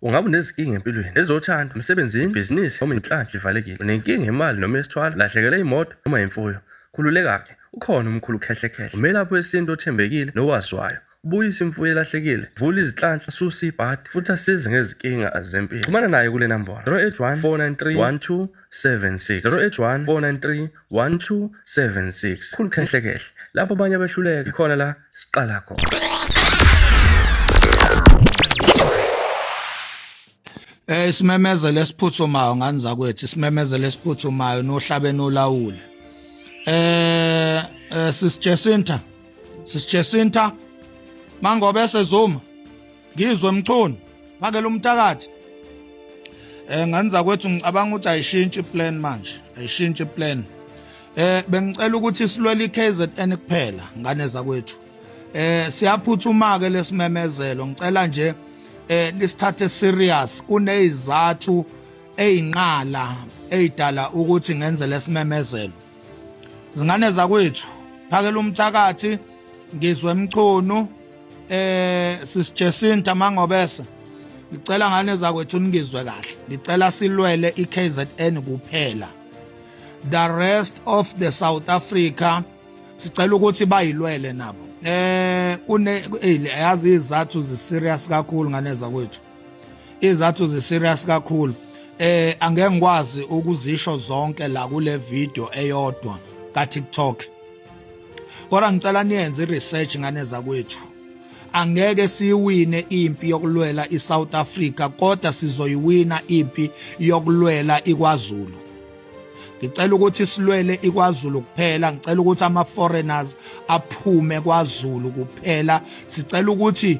Ungabe unezinkinga empilweni, ezothando, emsebenzini, ibhizinisi noma inhlanhla ivalekile. Unenkinga yemali noma yesithwalo, lahlekelwe imoto noma imfuyo. Khululeka-ke, ukhona umkhulu uKhehlekhehle, umelaphi wesintu othembekile nowaziwayo. Ubuyisa imfuyo elahlekile, vula izinhlanhla, susa ibhadi futhi asize ngezinkinga zempilo. Xhumana naye kule nambolo 081 493 1276 081 493 1276 khulu khehle khehle lapho abanye abehluleka khona la siqala khona Eh isimemezelo esiphuthumayo ngani zakwethu isimemezelo esiphuthumayo nohlabeni olawule eh, eh sisijesinta sisijesinta mangobe sezuma ngizwe mchunu makela umtakathi eh nganza kwethu ngicabanga ukuthi ayishintshi plan manje ayishintshi plan eh bengicela ukuthi silwele iKZN kuphela ngane zakwethu eh siyaphuthuma ke lesimemezelo ngicela nje eh nisithathe serious kunezizathu ezinqala ezidala ukuthi ngenze lesimemezelo zingane zakwethu phakela umthakathi ngizwe emchunu eh sis Jacinta mangobese ngicela ngane zakwethu ningizwe kahle ngicela silwele iKZN kuphela the rest of the South Africa sicela ukuthi bayilwele nabo eh kune yazi izathu ziserious kakhulu ngane zakwethu izathu ziserious kakhulu eh angeke ngikwazi ukuzisho zonke la kule video eyodwa ka TikTok kodwa ngicela niyenze research ngane zakwethu angeke siyiwine impi yokulwela iSouth Africa kodwa sizoyiwina impi yokulwela iKwaZulu ngicela ukuthi silwele iKwaZulu kuphela ngicela ukuthi ama foreigners aphume kwaZulu kuphela sicela ukuthi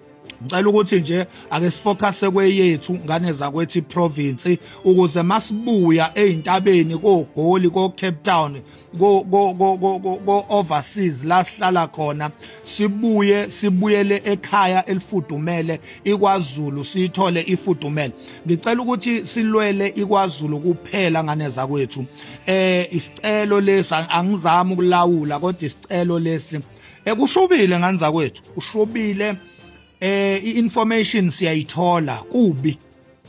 ngicela ukuthi nje ake sifocuse kweyethu ngane zakwethi province ukuze masibuya ezintabeni kogoli ko Cape Town ko ko ko ko overseas la sihlala khona sibuye sibuyele ekhaya elifudumele iKwaZulu sithole ifudumele ngicela ukuthi silwele iKwaZulu kuphela ngane zakwethu eh isicelo lesi angizami ukulawula kodwa isicelo lesi Ekushubile eh, ngani zakwethu, ushubile eh i-information siyayithola kubi.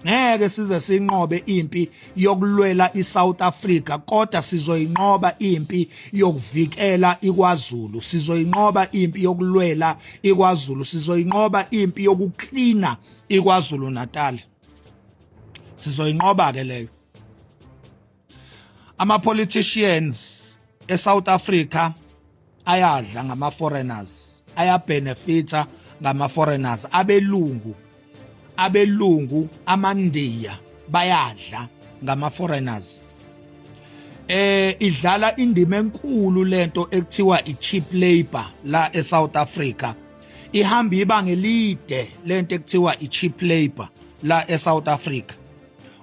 Ngeke size sinqobe impi yokulwela iSouth Africa kodwa sizoyinqoba impi yokuvikela iKwaZulu sizoyinqoba impi yokulwela iKwaZulu sizoyinqoba impi yokuklina iKwaZulu Natal sizoyinqoba ke leyo ama-politicians eSouth Africa ayadla ngama foreigners ayabenefita ngama foreigners abelungu abelungu amandiya bayadla ngama foreigners eh idlala indima enkulu lento ekuthiwa icheap labor la eSouth Africa ihamba ibanga elide lento ekuthiwa icheap labor la eSouth Africa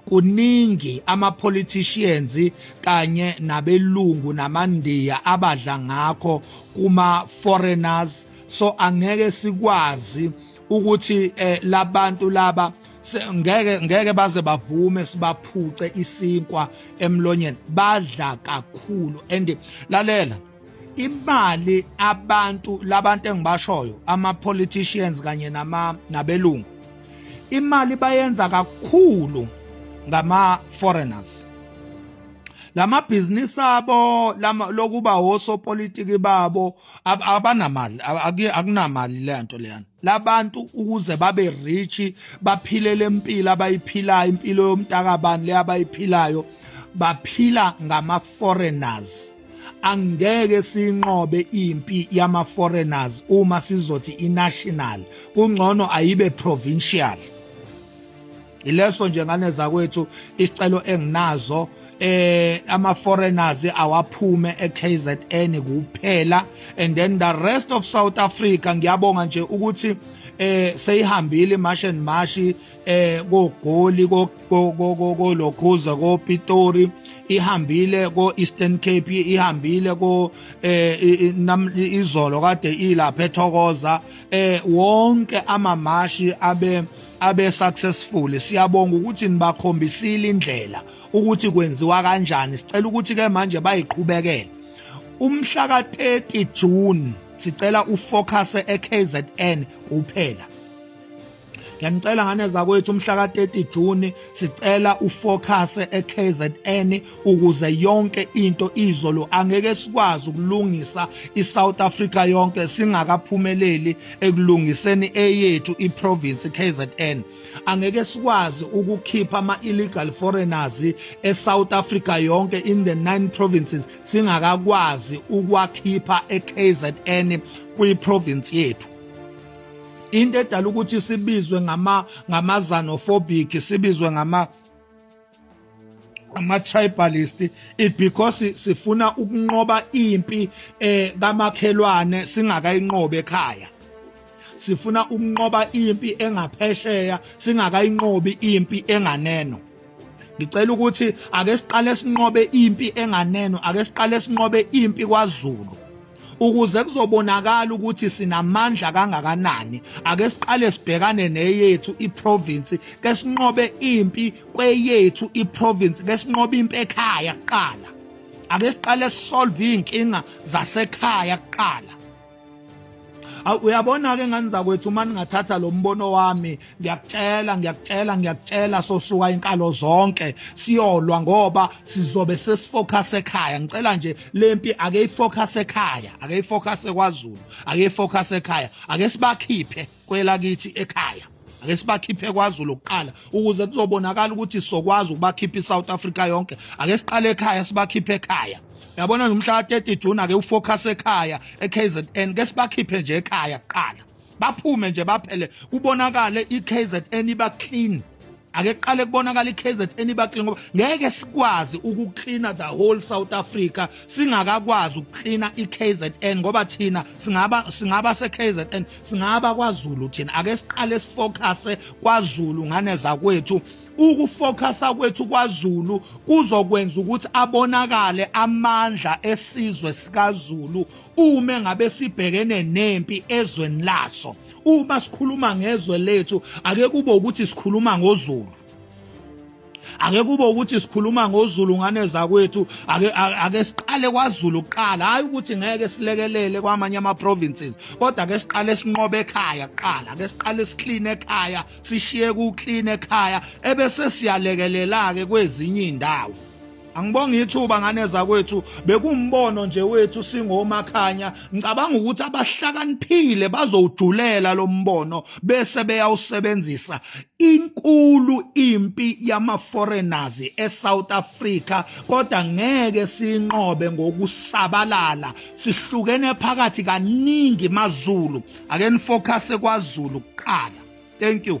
kuningi ama politicians kanye nabelungu namandiya abadla ngakho kuma foreigners so angeke sikwazi ukuthi eh, labantu laba ngeke ngeke baze bavume sibaphuce isinkwa emlonyeni badla kakhulu and lalela imali abantu labantu engibashoyo ama politicians kanye nama nabelungu imali bayenza kakhulu ngama foreigners lama business abo lokuba osopolitiki babo abanamali akunamali lento leyana labantu ukuze babe rich baphile lempilo abayiphilayo impilo yomntakabani le abayiphilayo baphila ngama foreigners angeke sinqobe impi yama foreigners uma sizothi inational kungcono ayibe provincial ileso nje ngane zakwethu isicelo enginazo eh ama foreigners awaphume eKZN kuphela and then the rest of South Africa ngiyabonga nje ukuthi eh seyihambile march and march eh kogoli kolokhuza koPitori ihambile ko Eastern Cape ihambile ko eh izolo kade ilapha ethokoza eh wonke amamashi abe abe successful siyabonga ukuthi nibakhombisile indlela ukuthi kwenziwa kanjani sicela ukuthi ke manje bayiqhubekele umhla ka 30 June sicela ufocus eKZN kuphela ngiyanicela ngane zakwethu umhla ka 30 June sicela ufocus eKZN ukuze yonke into izolo angeke sikwazi ukulungisa iSouth Africa yonke singakaphumeleli ekulungiseni eyethu iprovince KZN angeke sikwazi ukukhipha ama illegal foreigners eSouth Africa yonke in the nine provinces singakakwazi ukwakhipha eKZN kwiprovince yethu into edala ukuthi sibizwe ngama ngamazanophobic sibizwe ngama ama-tribalist it because sifuna ukunqoba impi eh kamakhelwane singakayinqobe ekhaya sifuna ukunqoba impi engaphesheya singakayinqobi impi enganeno ngicela ukuthi ake siqale sinqobe impi enganeno ake siqale sinqobe impi kwaZulu ukuze kuzobonakala ukuthi sinamandla kangakanani ake siqale sibhekane neyethu iprovince ke sinqobe impi kweyethu iprovince ke sinqobe impi ekhaya kuqala ake siqale sisolve izinkinga zasekhaya kuqala uyabona ke ngani zakwethu uma ningathatha lo mbono wami ngiyakutshela ngiyakutshela ngiyakutshela sosuka inkalo zonke siyolwa ngoba sizobe sesifocus ekhaya ngicela nje lempi ake ifocus ekhaya ake ifocus kwaZulu ake ifocus ekhaya ake sibakhiphe kwelakithi ekhaya ake sibakhiphe kwaZulu kuqala ukuze kuzobonakala ukuthi sokwazi ukubakhipha iSouth Africa yonke ake siqale ekhaya sibakhiphe ekhaya yabona nomhla 30 June ake ufocus ekhaya eKZN ke sibakhiphe nje ekhaya kuqala baphume nje baphele kubonakale iKZN iba clean ake qale kubonakala iKZN iba clean ngoba ngeke sikwazi ukucleana the whole South Africa singakakwazi ukucleana iKZN ngoba thina singaba singaba seKZN singaba kwaZulu thina ake siqale sifocuse kwaZulu ngane zakwethu ukufocasa kwethu kwaZulu kuzokwenza ukuthi abonakale amandla esizwe sikaZulu uma ngabe sibhekene nempi ezweni laso uma sikhuluma ngezwe lethu ake kube ukuthi sikhuluma ngozulu ake kube ukuthi sikhuluma ngozulu ngane zakwethu ake ake siqale kwaZulu kuqala hayi ukuthi ngeke silekelele kwamanye ama provinces kodwa ke siqale sinqobe ekhaya kuqala ke siqale siclean ekhaya sishiye ku clean ekhaya ebese siyalekelela ke kwezinye indawo Angibonga ithuba ngane zakwethu bekumbono nje wethu singomakhanya ngicabanga ukuthi abahlakaniphile bazowujulela lo mbono bese beyawusebenzisa inkulu impi yama foreigners eSouth Africa kodwa ngeke sinqobe ngokusabalala sihlukene phakathi kaningi maZulu ake nifocuse kwaZulu kuqala thank you